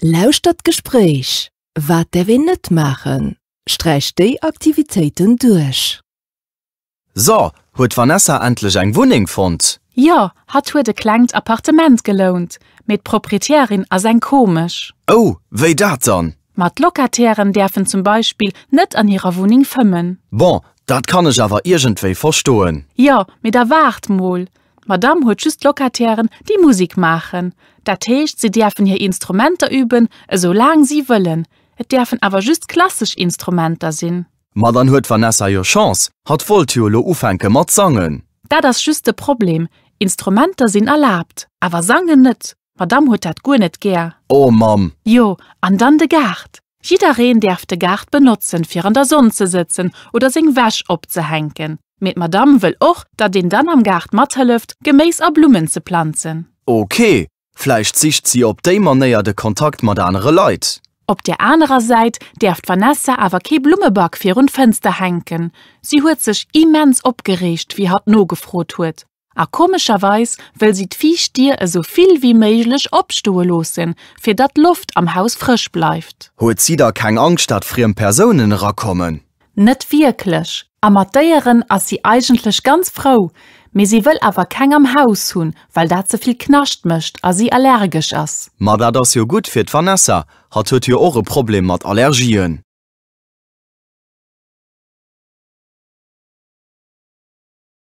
Lauschtert d'Gespréich Wat däerf een net maachen? Sträicht déi Aktivitéiten duerch. So, huet d'Vanessa endlech eng Wunneng fonnt? Jo, hatt huet e klengt Appartement gelount, mee d'Propriétairin ass eng komesch. Oh, wéi dat dann? Ma d'Locatairen däerfen zum Beispill net an hirer Wunneng fëmmen. Bon, dat kann ech awer iergendwéi verstoen. Jo, mee da waart mol, D'Madame huet just Locatairen, déi Musek maachen. Dat heescht, si däerfen hir Instrumenter üben, esou laang si wëllen. Et däerfen awer just klassesch Instrumenter sinn. Ma dann huet d'Vanessa jo Chance, hatt wollt jo elo ufänke mat sangen. Dat ass just de Problem, Instrumenter sinn erlaabt, awer sangen net. D'Madame huet dat guer net gär. Oh Mamm! Jo, an dann de Gaart. Jiddereen däerf de Gaart benotzen, fir an der Sonn ze sëtzen oder seng Wäsch opzehänken. Mee d'Madame wëll och, datt een dann am Gaart mathëlleft, Geméis a Blummen ze planzen. Ok, vläicht sicht si op déi Manéier de Kontakt mat anere Leit. Op där anerer Säit däerf d'Vanessa awer kee Blummeback virun d'Fënster hänken. Si huet sech immens opgereegt, wéi hatt nogefrot huet, A komescherweis wëll si d'viischt Dier esou vill wéi méiglech opstoe loossen, fir datt d'Loft am Haus frësch bleift. Huet si da keng Angscht, datt friem Persounen erakommen? Net wierklech. A mat Déieren ass si eigentlech ganz frou, mee si wëll awer keng am Haus hunn, well dat ze vill Knascht mécht a si allergesch ass. Ma dat ass jo gutt fir d'Vanessa, hatt huet jo och e Problem mat Allergien.